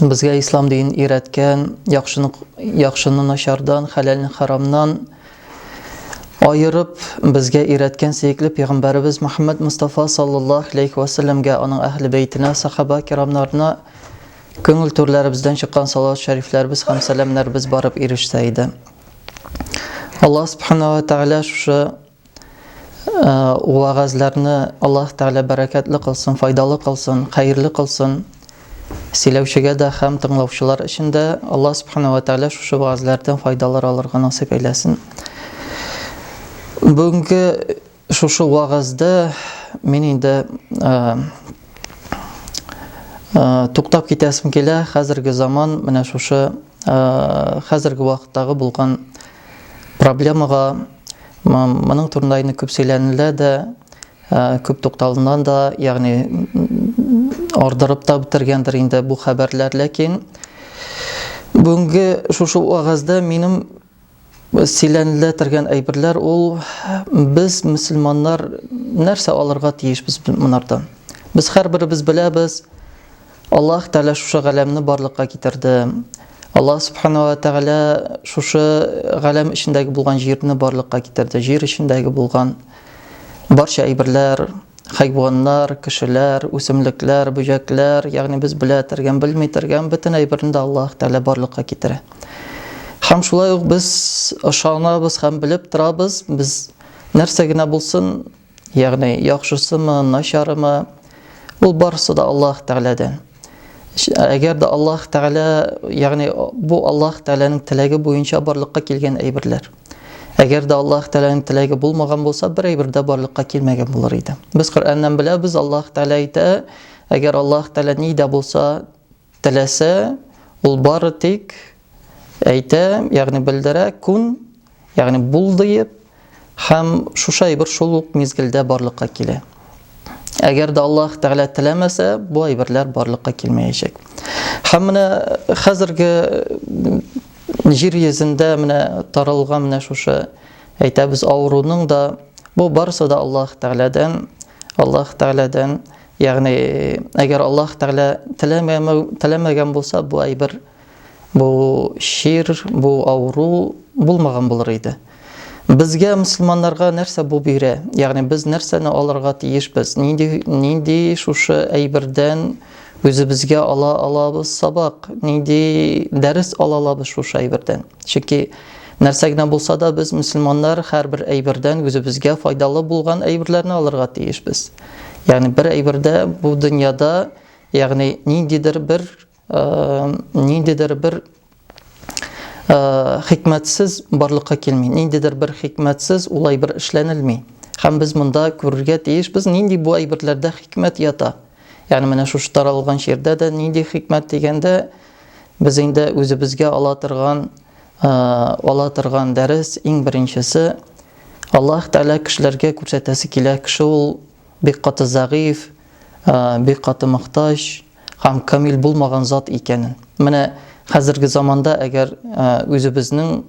Безгә ислам дин өйрәткән, яхшыны яхшыны начардан, хәләлне харамнан аерып безгә өйрәткән сөекле пәйгамбәребез Мөхәммәд Мустафа саллаллаһу алейхи ва салләмгә, аның әһле бәйтенә, сахаба кирамнарына күңел түрләребездән чыккан салават шәрифләребез һәм сәламнәребез барып ирешсә иде. Аллаһ субхана ва тәгалә шушы Вәгазьләрне Аллаһ Тәгалә бәрәкәтле кылсын, файдалы кылсын, хәерле кылсын. Сөйләүчегә дә һәм тыңлаучылар өчен дә Аллаһ Субхана ва Тәгалә шушы вәгазьләрдән файдалар алырга насыйп әйләсен. Бүгенге шушы вәгазьдә мин инде туктап китәсем килә. Хәзерге заман менә шушы хәзерге вакыттагы булган проблемага моның турында инде күп сөйләнелә дә, күп тукталыннан да, ягъни ардырып та бетергәндер инде бу хәбәрләр, ләкин бүгенге шушы вагазда минем Сөйләнеләтергән әйберләр ул без мөселманнар нәрсә алырга тиешбез монардан? Без һәрберебез беләбез, Аллаһ Тәгалә шушы галәмне барлыкка китерде. Аллаһ Субхану ва Тәгалә шушы галәм эчендәге булган җирне барлыкка китерде. Җир эчендәге булган Барча әйберләр, хайваннар, кешеләр, үсемлекләр, бөҗәкләр, ягъни без белә тергән, белми тергән бөтен әйберне дә Аллаһ Тәгалә барлыкка китерә. Һәм шулай ук без ышанабыз һәм белеп торабыз, без нәрсә генә булсын, ягъни яхшысымы, начарымы, ул барысы да Аллаһ Тәгаләдән. Әгәр дә Аллаһ Тәгалә, ягъни бу Аллаһ Тәгаләнең теләге буенча барлыкка килгән әйберләр. Әгәр дә Аллаһ Тәгаләнең теләге булмаган булса, бер әйбер дә барлыкка килмәгән булыр иде. Без Коръәннән беләбез, Аллаһ Тәгалә әйтә, әгәр Аллаһ Тәгалә ни дә булса теләсә, ул бары тик әйтә, ягъни белдерә, кун ягъни булдыеп һәм шушы әйбер шул ук мизгелдә барлыкка килә. Әгәр дә Аллаһ Тәгалә теләмәсә, бу әйберләр барлыкка килмәячәк. Һәм менә хәзерге җир йөзендә менә таралган менә шушы әйтәбез авыруның да бу барысы да Аллаһ Тәгаләдән, Аллаһ Тәгаләдән, ягъни әгәр Аллаһ Тәгалә теләмәгән булса, бу әйбер Бу чир, бу авыру булмаган булыр иде. Безгә, мөселманнарга, нәрсә бу бирә? Ягъни без нәрсәне алырга тиешбез? Нинди нинди шушы әйбердән үзебезгә ала алабыз сабак? Нинди дәрес ала алабыз шушы әйбердән? Чөнки нәрсә генә булса да без мөселманнар һәрбер әйбердән үзебезгә файдалы булган әйберләрне алырга тиешбез. Ягъни бер әйбердә бу дөньяда, ягъни ниндидер бер ниндидер бер хикмәтсез барлыкка килми, ниндидер бер хикмәтсез ул әйбер эшләнелми. Һәм без монда күрергә тиешбез, нинди бу әйберләрдә хикмәт ята. Ягъни менә шушы таралган шигырьдә дә нинди хикмәт дигәндә без инде үзебезгә ала торган ала торган дәрес иң беренчесе Аллаһ Тәгалә кешеләргә күрсәтәсе килә. Кеше ул бик каты зәгыйфь, бик каты мохтаҗ, һәм камил булмаган зат икәнен. Менә хәзерге заманда әгәр үзебезнең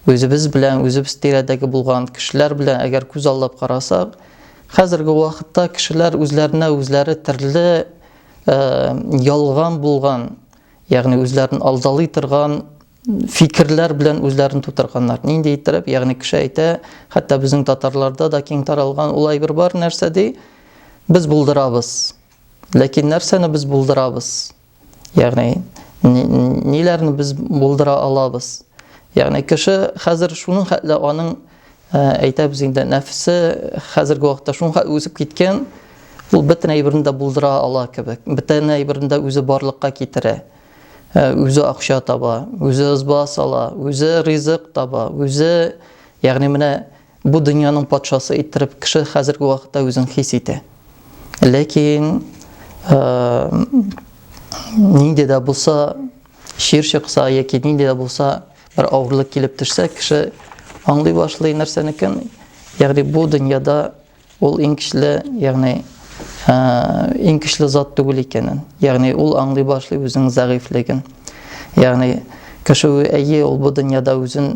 үзебез белән, үзебез тирәдәге булган кешеләр белән әгәр күз аллап карасак, хәзерге вакытта кешеләр үзләренә үзләре төрле ялган булган, ягъни үзләрен алдалый торган фикерләр белән үзләрен тутырганнар. Нинди иттереп, ягъни кеше әйтә, хәтта безнең татарларда да киң таралган улай бер бар нәрсә ди, без булдырабыз. Ләкин нәрсәне без булдырабыз? Ягъни ниләрне без булдыра алабыз? Ягъни кеше хәзер шуның хәтле аның әйтәбез инде нәфсе хәзерге вакытта шуңа үзеп киткән ул бөтен әйберне дә булдыра ала кебек бөтен әйберне дә үзе барлыкка китерә үзе акча таба үзе ызба сала үзе ризык таба үзе ягъни менә Бу дөньяның патшасы иттереп кеше хәзерге вакытта үзен хис итә. Ләкин нинди дә булса чир чыкса яки нинди дә булса бер авырлык килеп төшсә, кеше аңлый башлый нәрсәнекен, ягъни бу дөньяда ул иң көчле, ягъни иң көчле зат түгел икәнен. Ягъни ул аңлый башлый үзенең зәгыйфьлеген. Ягъни кеше әйе, ул бу дөньяда үзен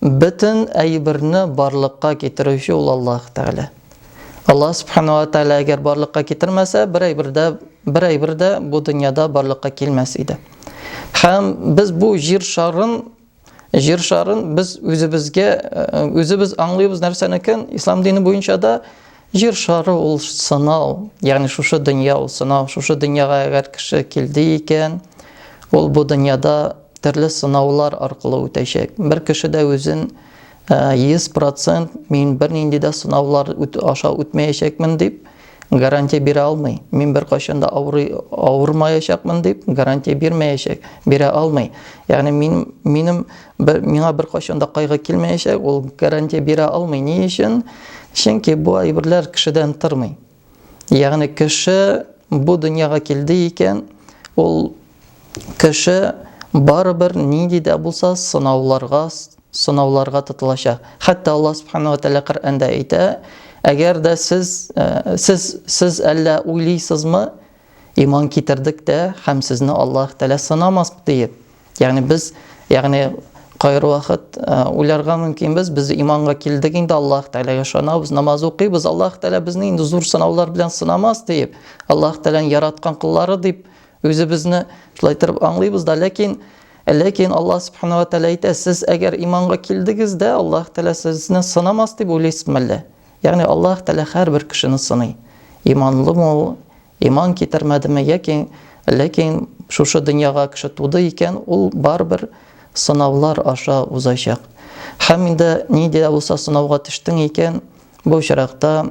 Бөтен әйберне барлыкка китерүче ул Аллаһ Тәгалә. Аллаһ Субхана ва Тәгалә әгәр барлыкка китермәсә, бер әйбер дә, бер әйбер дә бу дөньяда барлыкка килмәс иде. Һәм без бу җир шарын җир шарын без үзебезгә э, үзебез аңлыйбыз нәрсәнекен ислам дине буенча да Җир шары ул сынау, ягъни шушы дөнья ул сынау. Шушы дөньяга әгәр кеше килде икән, ул бу дөньяда төрле сынаулар аркылы үтәчәк. Бер кеше дә үзен 100% мин бернинди дә сынаулар аша үтмәячәкмен дип гарантия бирә алмый. Мин беркайчан да авырый авырмаячакмын дип гарантия бирмәячәк, бирә алмый. Ягъни мин минем Бер, миңа беркайчан да кайгы килмәячәк, ул гарантия бирә алмый. Ни өчен? Чөнки бу әйберләр кешедән тормый. Ягъни кеше бу дөньяга килде икән, ул кеше барыбер нинди дә булса сынауларга сынауларга тотылачак. Хәтта Аллаһ субхану ва тәгалә Коръәндә әйтә, әгәр дә сез э, сез сез әллә уйлыйсызмы, Иман китердек тә һәм сезне Аллаһ Тәгалә сынамас диеп. Ягъни без, ягъни кайр вакыт уйларга мөмкин без, без иманга килдек инде Аллаһ Тәгаләгә ышанабыз, намаз укыйбыз, Аллаһ Тәгалә безне инде зур сынаулар белән сынамас диеп, Аллаһ Тәгаләнең яраткан куллары дип үзебезне шулай торып аңлыйбыз да, ләкин Ләкин Аллаһ Субхану ва Тәгалә әйтә, сез әгәр иманга килдегез дә, Аллаһ Тәгалә сезне сынамас дип уйлыйсызмы әллә? Ягъни Аллаһ Тәгалә һәрбер кешене сыный. Иманлымы ул, иман китермәдеме, яки ләкин шушы дөньяга кеше туды икән, ул барыбер сынаулар аша узачак. Һәм инде нинди дә булса сынауга төштең икән, бу очракта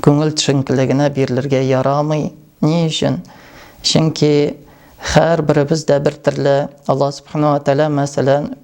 күңел төшенкелегенә бирелергә ярамый. Ни өчен? Чөнки һәрберебез дә бер төрле. Аллаһ Субхана ва Тәгалә, мәсәлән,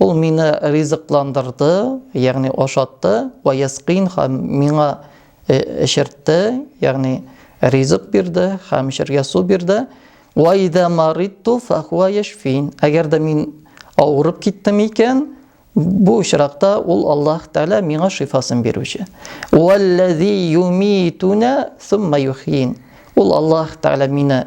Ул мине ризыкландырды, ягъни ашатты, ва яскин һәм миңа эчертте, ягъни ризык бирде һәм эчәргә су бирде. Ва ида мариту фахуа яшфин. Әгәр дә мин авырып киттем икән, бу очракта ул Аллаһ Тәгалә миңа шифасын бирүче. Валлази юмитуна сумма юхин. Ул Аллаһ Тәгалә мине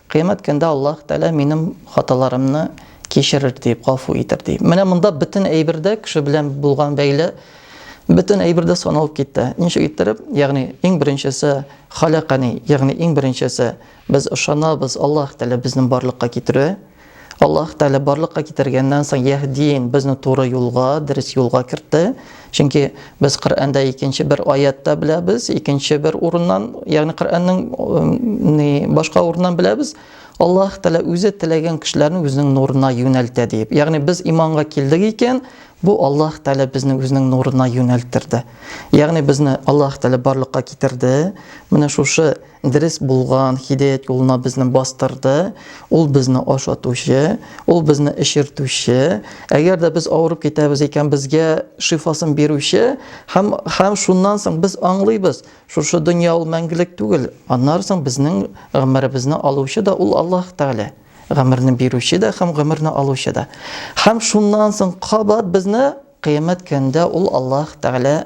Кыямәт көндә Аллаһ Тәгалә минем хаталарымны кичерер, диеп, гафу итер, ди. Менә монда бөтен әйбер дә, кеше белән булган бәйле, бөтен әйбер дә саналып китте. Ничек иттереп? Ягъни, иң беренчесе, халәкани, ягъни иң беренчесе, без ышанабыз, Аллаһ Тәгалә безне барлыкка китерүе, Аллаһ Тәгалә барлыкка китергәннән соң яһдин безне туры юлга, дөрес юлга кертте. Чөнки без Коръәндә икенче бер аятта беләбез, икенче бер урыннан, ягъни Коръәннең башка урыннан беләбез. Аллаһ Тәгалә үзе теләгән кешеләрне үзенең нурына юнәлтә дип. Ягъни без иманга килдек икән, бу Аллаһ Тәгалә безне үзенең нурына юнәлттерде. Ягъни безне Аллаһ Тәгалә барлыкка китерде. Менә шушы Дөрес булган һидаят юлына безне бастырды. Ул безне ашатучы, ул безне эчертүче. Әгәр дә без авырып китәбез икән, безгә шифасын бирүче һәм һәм шуннан соң без аңлыйбыз, шушы дөнья ул мәңгелек түгел. Аннан соң безнең гомеребезне алучы да ул Аллаһ Тәгалә. Гомерне бирүче дә һәм гомерне алучы да. Һәм шуннан соң кабат безне Кыямәт көнендә ул Аллаһ Тәгалә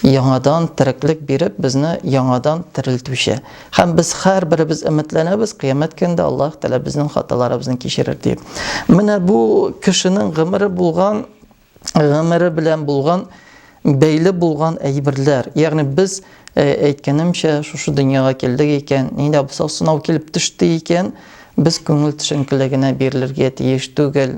яңадан тереклек биреп, безне яңадан терелтүче. Һәм без һәрберебез өметләнәбез, кыямәт көнендә Аллаһ Тәгалә безнең хаталарыбызны кичерер дип. Менә бу кешенең гомере булган, гомере белән булган, бәйле булган әйберләр. Ягъни без э, әйткәнемчә, шушы дөньяга килдек икән, нидә булса сынау килеп төште икән, без күңел төшенкелегенә бирелергә тиеш түгел.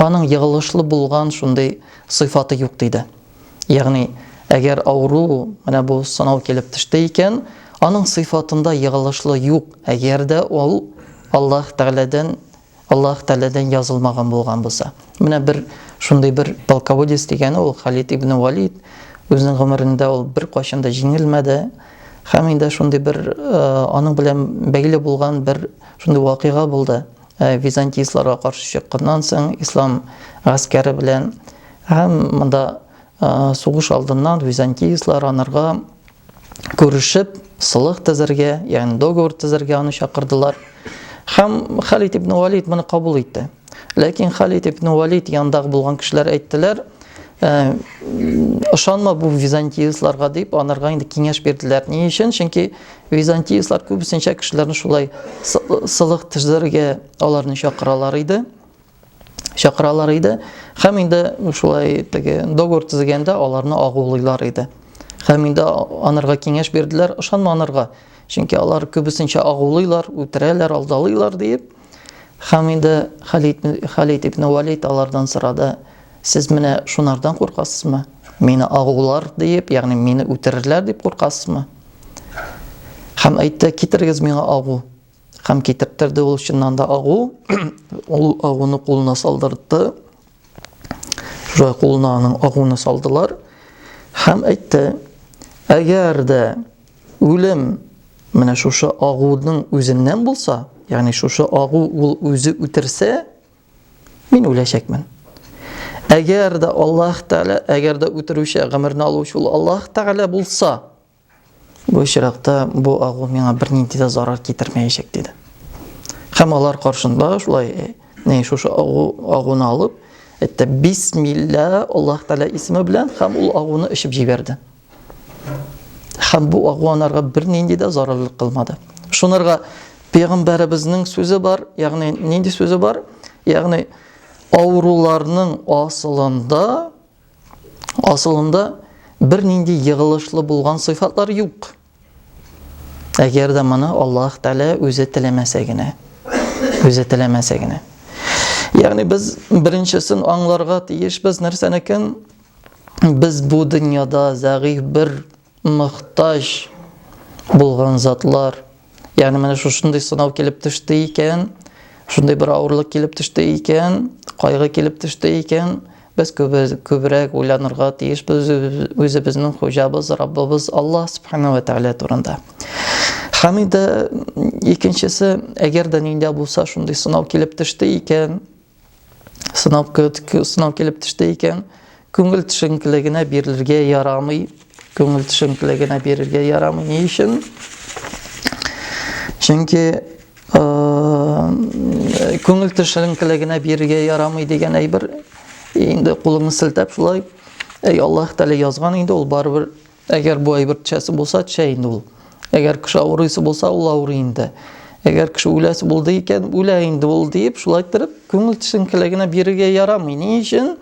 Аның егылышлы булган шундый сыйфаты юк диде. Ягъни, әгәр авыру менә бу сынау килеп төште икән, аның сыйфатында егылышлы юк, әгәр дә ул Аллаһ Тәгаләдән Аллаһ Тәгаләдән язылмаган булган булса. Менә бер шундый бер полководец дигәне ул Халид ибн Валид. Үзенең гомерендә ул бер кайчан да җиңелмәде. Һәм инде шундый бер э, аның белән бәйле булган бер шундый вакыйга булды. Византийцларга каршы чыкканнан соң ислам гаскәре белән һәм монда сугыш алдыннан византийцлар анарга күрешеп сылык төзергә, ягъни договор төзергә аны чакырдылар. Һәм Халид ибн Валид моны кабул итте. Ләкин Халид ибн Валид янындагы булган кешеләр әйттеләр, Э, ышанма бу византийцларга дип анарга инде киңәш бирделәр ни өчен чөнки Византиецлар күбесенчә кешеләрне шулай сылык төзергә аларны чакыралар иде. Чакыралар иде. Хәм инде шулай теге договор төзегәндә аларны агулыйлар иде. Хәм инде анырга киңәш бирделәр, ышанма анырга. Чөнки алар күбесенчә агулыйлар, үтерәләр, алдалыйлар диеп. Хәм инде Халид Халид ибн Валид алардан сорады: "Сез менә шунардан куркасызмы? Мине агулар диеп, ягъни мине үтерерләр дип куркасызмы?" Хәм әйтте, китерегез миңа агу. Хәм китертерде ул чыннан да агу. Ул агуны кулына салдырды. Шулай кулына аның агуны салдылар. Хәм әйтте, әгәр дә үлем менә шушы агуның үзеннән булса, ягъни шушы агу ул үзе үтерсә, Мин үләчәкмен. Әгәр дә Аллаһ Тәгалә, әгәр дә үтерүче, гомерне алучы ул Аллаһ Тәгалә булса, бу очракта бу агу миңа бернинди дә зарар китермәячәк диде. Һәм алар каршында шулай э, не шушы агу агуны алып, әйтте бисмилла Аллаһ Тәгалә исеме белән һәм ул агуны эчеп җибәрде. Хәм бу агуанарга бер нинди дә зарарлык кылмады. Шунырга пәйгамбәребезнең сүзе бар, ягъни нинди сүзе бар? Ягъни авыруларның асылында асылында бер нинди егылышлы булган сыйфатлар юк. Әгәр дә моны Аллаһ Тәгалә үзе теләмәсә генә. Үзе теләмәсә генә. Ягъни без беренчесен аңларга тиешбез нәрсәнекен? Без бу дөньяда зәгыйфь бер, мохтаҗ булган затлар. Ягъни менә шушындый сынау килеп төште икән, шундый бер авырлык килеп төште икән, кайгы килеп төште икән, без күбрәк уйланырга тиешбез үзебезнең хуҗабыз, Раббыбыз Аллаһ субхана ва тәгалә турында. Һәм инде икенчесе, әгәр дә ниндә булса шундый сынау килеп төште икән, сынау, сынау килеп төште икән, күңел төшенкелегенә бирелергә ярамый. Күңел төшенкелегенә бирергә ярамый. Ни өчен? Чөнки күңел төшенкелегенә бирергә ярамый дигән әйбер инде кулыңны селтәп шулай әй Аллаһ Тәгалә язган инде ул барыбер Әгәр бу әйбер төшәсе булса, төшә инде ул. Әгәр кеше авырыйсы булса, ул авырый инде. Әгәр кеше үләсе булды икән, үлә инде ул диеп, шулай торып, күңел төшенкелегенә бирергә ярамый. Ни өчен?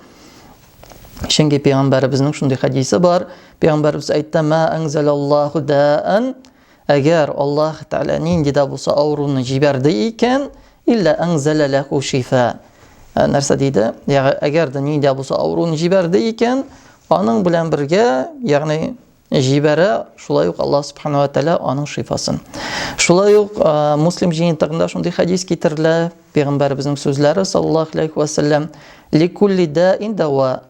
Чөнки пәйгамбәребезнең шундый хәдисе бар. Пәйгамбәребез әйтте: "Ма анзалаллаху даан Әгәр Аллаһ Тәгалә нинди дә булса авыруны җибәрде икән, илла әңзәлә ләху шифа. Ә, нәрсә диде? Ягъ, әгәр дә нинди дә булса авыруны җибәрде икән, аның белән бергә, ягъни җибәрә, шулай ук Аллаһ Субхану ва Тәгалә аның шифасын. Шулай ук Муслим җыентыгында шундый хәдис китерелә, пәйгамбәребезнең сүзләре саллаллаһу алейхи ва саллям, "Ликулли даин дава,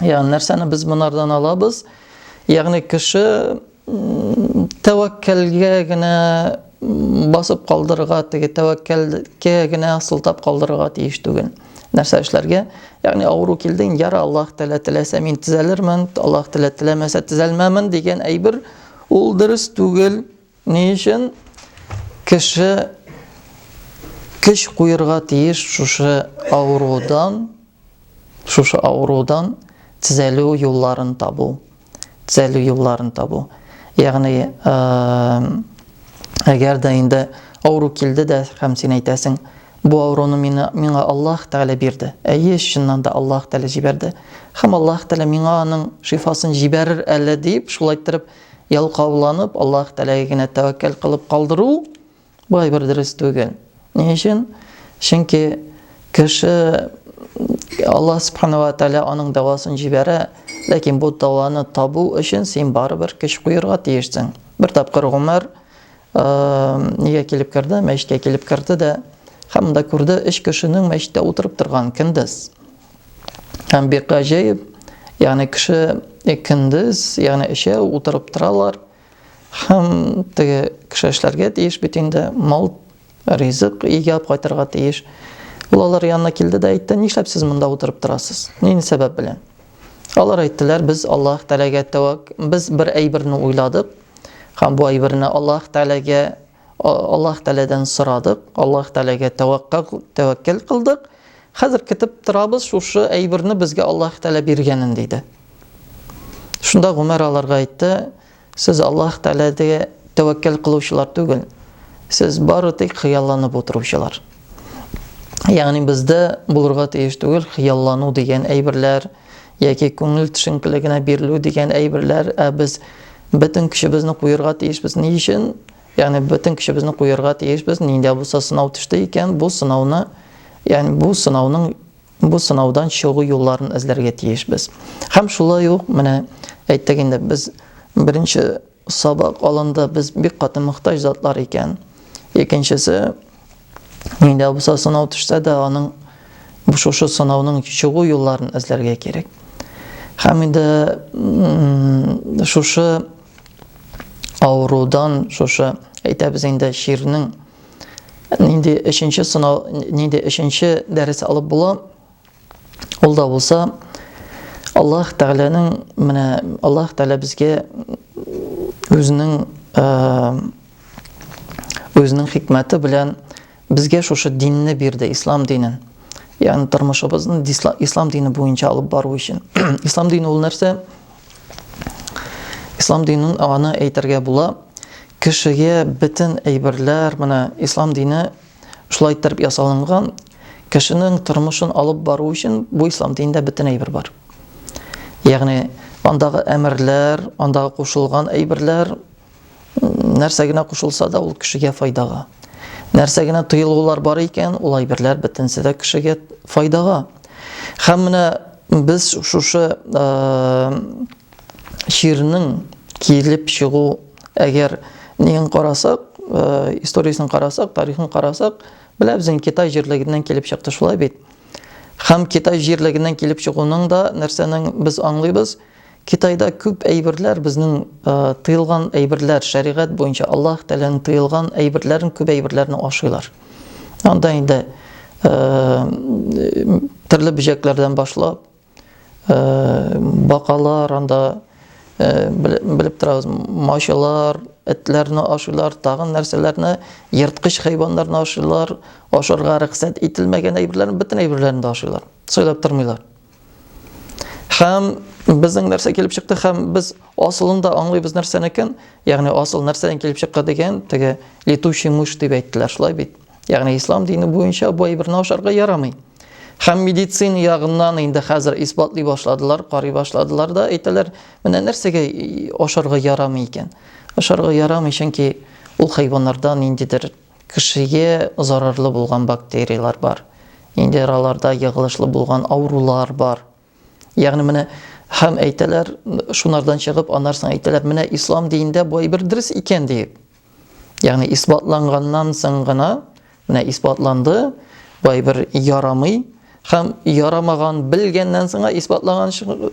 Ягъни нәрсәне без монардан алабыз? Ягъни кеше тәвәккәлгә генә басып калдырырга, теге тәвәккәлгә генә сылтап калдырырга тиеш түгел. Нәрсә эшләргә? Ягъни авыру килде, яра Аллаһ Тәгалә теләсә мин төзәлермен, Аллаһ Тәгалә теләмәсә төзәлмәмен дигән әйбер ул дөрес түгел. Ни өчен кеше көч куерга тиеш шушы авырудан, шушы авырудан төзәлү юлларын табу, төзәлү юлларын табу. Ягъни, әгәр дә инде авыру килде дә һәм син әйтәсең, бу авыруны мина, миңа Аллаһ Тәгалә бирде. Әйе, чыннан да Аллаһ Тәгалә җибәрде. Һәм Аллаһ Тәгалә миңа аның шифасын җибәрер әле дип, шулай иттереп, Ялкауланып, Аллаһ Тәгаләгә генә тәвәккәл кылып калдыру болай бер дөрес түгел. Ни өчен? Чөнки кеше Аллаһ Субхану ва Тәгалә аның дәвасын җибәрә, ләкин бу дәваны табу өчен син барыбер көч куерга тиешсең. Бер тапкыр Гомәр нигә килеп керде, мәчеткә килеп керде дә, һәм монда күрде, өч кешенең мәчеттә утырып торган көндез. Һәм бик гаҗәеп, ягъни кеше көндез, ягъни өчәү утырып торалар. Һәм теге кеше эшләргә тиеш бит инде, мал, ризык игәп кайтырга тиеш. Ул алар янына килде дә әйтте, нишләп сез монда утырып торасыз? Нинди сәбәп белән? Алар әйттеләр, без Аллаһ Тәгаләгә тәвәк, без бер әйберне уйладык, һәм бу әйберне Аллаһ Тәгаләгә Аллаһ Тәгаләдән сорадык, Аллаһ Тәгаләгә тәвәккәл кылдык. Хәзер көтеп торабыз, шушы әйберне безгә Аллаһ Тәгалә биргәнен диде. Шунда Гомәр аларга әйтте, сез Аллаһ Тәгаләгә тәвәккәл кылучылар түгел. Сез бары тик хыялланып утыручылар. Ягъни бездә булырга тиеш түгел хыяллану дигән әйберләр, яки күңел төшенкелегенә бирелү дигән әйберләр, ә без бөтен көчебезне куерга тиешбез. Ни өчен? Ягъни бөтен көчебезне куерга тиешбез. Нинди булса сынау төште икән, бу сынауны, ягъни бу сынауның бу сынаудан чыгу юлларын эзләргә тиешбез. Һәм шулай ук менә әйттек инде, без беренче Сабак алынды, без бик каты мохтаҗ затлар икән. Икенчесе, нидә булса сынау төшсә дә, аның шушы сынауның чыгу юлларын эзләргә кирәк. Һәм инде шушы авырудан, шушы әйтәбез инде чирнең нинди өченче сынау, нинди өченче дәрес алып була, Ул да булса, Аллаһ Тәгаләнең менә Аллаһ Тәгалә безгә үзенең үзенең хикмәте белән безгә шушы динне бирде, ислам динен. Ягъни тормышыбызны ислам дине буенча алып бару өчен. Ислам дине ул нәрсә? Ислам динен аны әйтергә була, кешегә бөтен әйберләр, менә ислам дине шулай иттереп ясалынган, Кешенең тормышын алып бару өчен бу ислам динендә бөтен әйбер бар. Ягъни андагы әмерләр, андагы кушылган әйберләр нәрсә генә кушылса да ул кешегә файдага. Нәрсә генә тыелулар бар икән, ул әйберләр бөтенесе дә кешегә файдага. Һәм менә без шушы чирнең килеп чыгу әгәр нең карасак, историясен карасак, тарихын карасак, Беләбез инде, Китай җирлегеннән килеп чыкты, шулай бит? Һәм Китай җирлегеннән килеп чыгуның да нәрсәнең без аңлыйбыз? Китайда күп әйберләр безнең э, тыелган әйберләр, шәригать буенча Аллаһ Тәгаләнең тыелган әйберләрен, күп әйберләрне ашыйлар. Анда инде э, төрле бөҗәкләрдән башлап, бакалар, анда белеп торабыз, мачылар, этләрне ашыйлар, тагын нәрсәләрне, ерткыч хайваннарны ашыйлар, ашарга рөхсәт ителмәгән әйберләрне, бөтен әйберләрне дә ашыйлар, сайлап тормыйлар. Һәм безнең нәрсә килеп чыкты, һәм без асылында аңлыйбыз нәрсәнекен, ягъни асыл нәрсәдән килеп чыкка дигән, теге летучий мышь дип әйттеләр, шулай бит. Ягъни ислам дине буенча бу әйберне ашарга ярамый. Һәм медицина ягыннан инде хәзер исбатлый башладылар, карый башладылар да әйтәләр, менә нәрсәгә ашарга ярамый икән. Ашарга ярамый, чөнки ул хайваннарда ниндидер кешегә зарарлы булган бактерияләр бар. Инде араларда егылышлы булган авырулар бар. Ягъни менә һәм әйтәләр, шунардан чыгып, аннарсың әйтәләр, менә ислам динендә бу әйбер дөрес икән диеп. Ягъни исбатланганнан соң гына, менә исбатланды, бу әйбер ярамый, һәм ярамаган белгәннән соң исбатлаган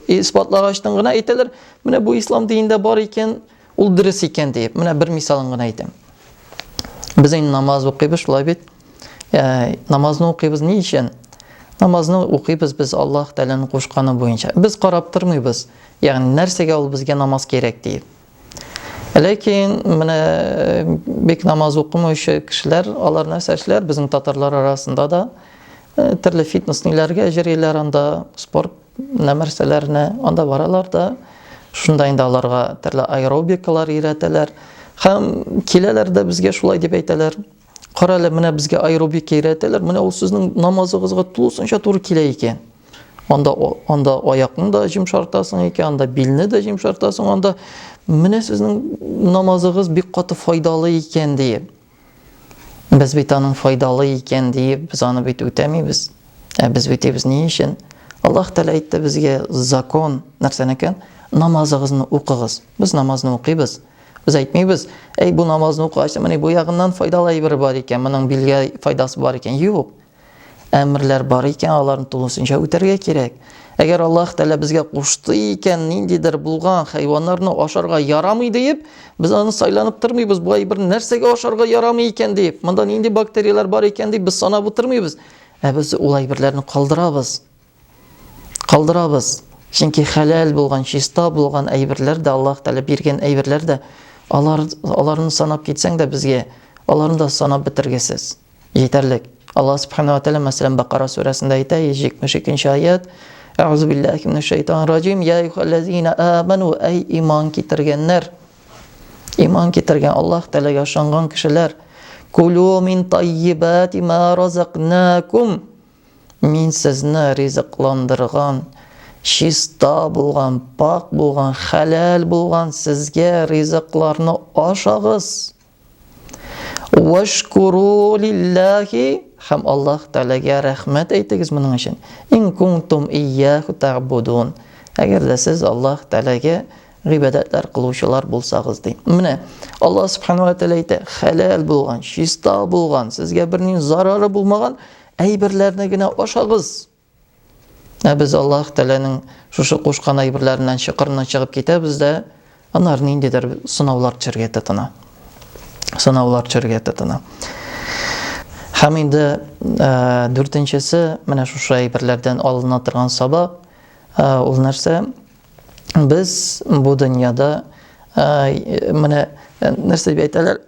исбатлагачтан гына әйтәләр, менә бу ислам динендә бар икән, ул дөрес икән диеп. Менә бер мисалын гына әйтәм. Без инде намаз укыйбыз, шулай бит? Ә, намазны укыйбыз ни өчен? Намазны укыйбыз без Аллаһ Тәгаләнең кушканы буенча. Без карап тормыйбыз, ягъни нәрсәгә ул безгә намаз кирәк диеп. Ләкин менә э, бик намаз укымыйчы кешеләр, алар нәрсә эшләр? Безнең татарлар арасында да э, төрле фитнес ниләргә җөриләр анда, спорт нәрсәләренә, анда баралар да. Шунда инде аларга төрле аэробикалар өйрәтәләр. Хәм киләләр дә безгә шулай дип әйтәләр. Карале, менә безгә аэробика өйрәтәләр. Менә ул сезнең намазыгызга тулысынча туры килә икән. Анда анда аякны да җимшартасың икән, анда билне дә җимшартасың, анда менә сезнең намазыгыз бик каты файдалы икән диеп. Без бит аның файдалы икән диеп, без аны бит үтәмибез. Ә без үтибез ни өчен? Аллаһ Тәгалә әйтте безгә закон, нәрсәнекен? Намазыгызны укыгыз. Без намазны укыйбыз. Без әйтмибез, әй бу намазны укыгач, менә бу ягыннан файдалы әйбер бар икән, моның билгә файдасы бар икән. Юк. Әмерләр бар икән, аларны тулысынча үтәргә кирәк. Әгәр Аллаһ Тәгалә безгә кушты икән, ниндидер булган хайваннарны ашарга ярамый диеп, без аны сайланып тормыйбыз. Бу әйбер нәрсәгә ашарга ярамый икән диеп, монда нинди бактерияләр бар икән дип без санап утырмыйбыз. Ә без ул әйберләрне калдырабыз. Калдырабыз. Чөнки хәләл булган, чиста булган әйберләр дә Аллаһ Тәгалә биргән әйберләр дә алар аларны санап китсәң дә безгә аларны да санап бетергесез. Җитәрлек. Аллаһ Субханаһу ва Тәгалә мәсәлән Бакара сүрәсендә әйтә 172 аят. Әгъзу биллахи минәш шайтанир раҗим. Я юхаллазина аману ай иман китергәннәр. Иман китергән Аллаһ Тәгаләгә ышанган кешеләр. Кулу мин таййибати ма разакнакум. Мин сезне ризыкландырган, чиста булган, пакь булган, хәләл булган сезгә ризыкларны ашагыз. Вашкуру лиллахи һәм Аллаһ Тәгаләгә рәхмәт әйтегез моның өчен. Ин кунтум ияху табудун. Әгәр дә сез Аллаһ Тәгаләгә гыйбадәтләр кылучылар булсагыз ди. Менә Аллаһ Субхану ва Тәгалә әйтә, хәләл булган, чиста булган, сезгә бернинди зарары булмаган Әйберләрне генә ашагыз! Ә без Аллаһ Тәгаләнең шушы кушкан әйберләреннән чокырыннан чыгып китәбез дә, аннары ниндидер сынаулар төшәргә тотына. Сынаулар төшәргә тотына. Һәм инде ә, дүртенчесе, менә шушы әйберләрдән алына торган сабак, ә, ул нәрсә? Без бу дөньяда ә, менә нәрсә дип әйтәләр?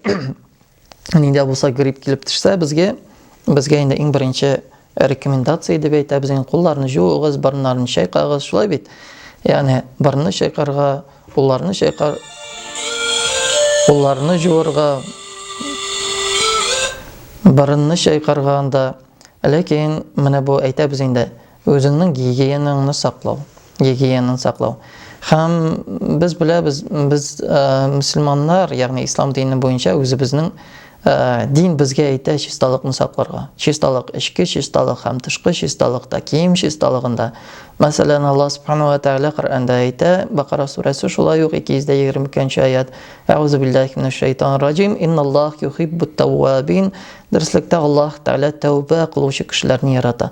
нинди булса грипп килеп төшсә безгә безгә инде иң беренче рекомендация дип әйтәбез инде кулларны жууыгыз борыннарны чайкагыз шулай бит яғни борынны чайкарга кулларны чайкар кулларны жуырга борынны чайкарга анда ләкин менә бу әйтәбез инде Үзеңнең гигиенаңны саклау, гигиенаны саклау. Һәм без беләбез, без мөселманнар, ягъни ислам дине буенча үзебезнең дин безгә әйтә чисталыкны сакларга. Чисталык эчке чисталык һәм тышкы чисталыкта, кием чисталыгында. Мәсәлән, Аллаһ субханаһу ва тәгалә Коръәндә әйтә, Бакара сүрәсе шулай ук 222 аят. Әгъузу биллахи минәш шайтанир раҗим. Инналлаһ юхиббут тәввабин. Дөреслекдә Аллаһ тәгалә тәүбә кылучы кешеләрне ярата.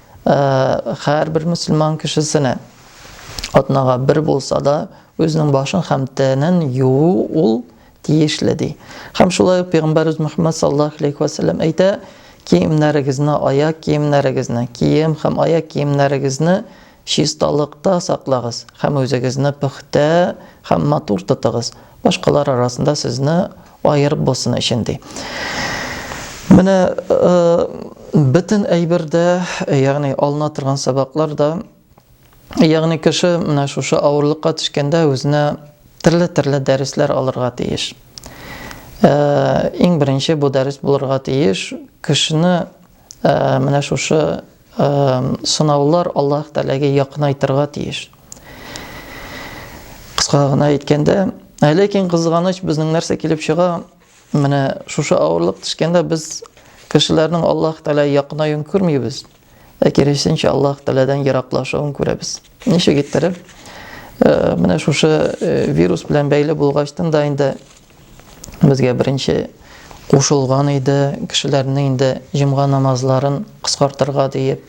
һәрбер мөселман кешесенә атнага бер булса да үзенең башын һәм тәнен юу ул тиешле ди. Һәм шулай ук пәйгамбәрбез Мөхәммәд саллаллаһу алейхи ва сәлләм әйтә, киемнәрегезне, аяк киемнәрегезне, кием һәм аяк киемнәрегезне чисталыкта саклагыз һәм үзегезне пөхтә һәм матур тотыгыз, башкалар арасында сезне Аерып булсын өчен, ди. Менә бөтен әйбер дә, ягъни алына торган сабаклар да, ягъни кеше менә шушы авырлыкка төшкәндә үзенә төрле-төрле дәресләр алырга тиеш. Иң беренче бу дәрес булырга тиеш, кешене менә шушы сынаулар Аллаһ Тәгаләгә якынайтырга тиеш. Кыска гына әйткәндә, ә ләкин кызганыч безнең нәрсә килеп чыга? Менә шушы авырлык төшкәндә без кешеләрнең Аллаһ Тәгалә якынаюын күрмибез, ә киресенчә Аллаһ Тәгаләдән ераклашуын күрәбез. Ничек иттереп? Э, менә шушы э, вирус белән бәйле булгачтан да инде Безгә беренче кушылган иде, кешеләрне инде җомга намазларын кыскартырга диеп,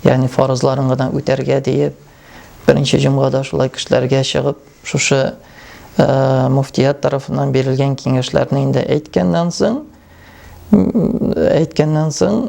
ягъни фарызларын гына үтәргә диеп, беренче җомгада шулай кешеләргә чыгып, шушы э, муфтият тарафыннан бирелгән киңәшләрне инде әйткәннән соң, әйткәннән соң,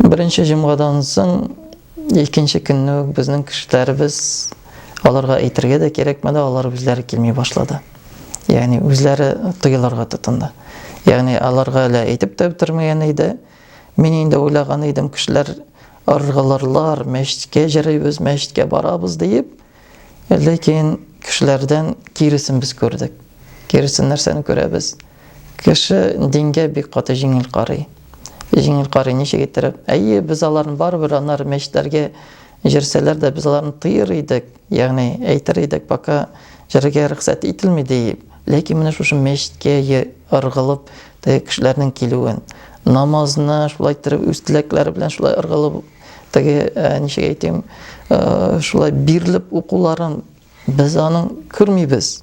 Беренче җомгадан соң икенче көнне үк безнең кешеләребез аларга әйтергә дә кирәкмәде, алар үзләре килми башлады. Ягъни үзләре тыелырга тотынды. Ягъни аларга әле әйтеп тә бетермәгән иде. Мин инде уйлаган идем, кешеләр ыргылырлар, мәчеткә җырыйбыз, мәчеткә барабыз диеп, Ләкин кешеләрдән киресен без күрдек. Киресен нәрсәне күрәбез? Кеше дингә бик каты җиңел карый. Җиңел карый ничек иттереп? Әйе, без аларны барыбер анар мәчетләргә җөрсәләр дә без аларны тыер идек, ягъни әйтер идек, пока җөрергә рөхсәт ителми диеп. Ләкин менә шушы мәчеткә ыргылып теге кешеләрнең килүен, намазны шулай иттереп үз теләкләре белән шулай ыргылып Теге, ә, ничек әйтим, ә, шулай бирелеп укуларын без аның күрмибез.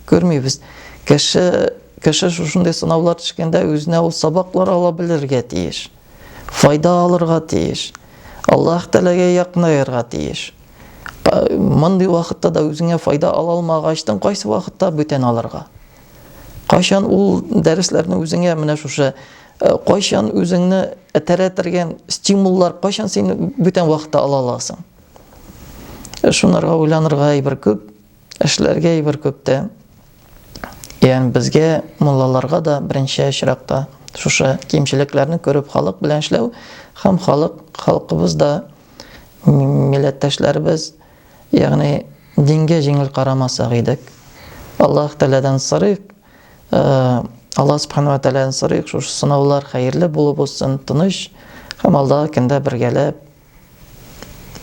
Күрмибез. Кеше кеше шушындый сынаулар төшкәндә үзенә ул сабаклар ала белергә тиеш. Файда алырга тиеш. Аллаһ Тәгаләгә якынаерга тиеш. Мондый вакытта да үзеңә файда ала алмагачтың кайсы вакытта бүтән алырга? Кайчан ул дәресләрне үзеңә менә шушы э, кайчан үзеңне тәрәтергән стимуллар кайчан син бүтән вакытта ала аласың? Э, шунарга уйланырга әйбер күп, эшләргә әйбер күп тә. Ягъни безгә муллаларга да беренче очракта шушы кимчелекләрне күреп халык белән эшләү һәм халык халкыбыз да милләттәшләребез Ягъни дингә җиңел карамасак идек. Аллаһ Тәгаләдән сорыйк, Аллаһ Субхану ва Тәгаләдән сорыйк, шушы сынаулар хәерле булып узсын, тыныч һәм алдагы көндә бергәләп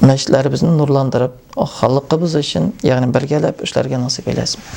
мәчетләребезне нурландырып, халыкыбыз өчен, ягъни бергәләп эшләргә насыйп әйләсен.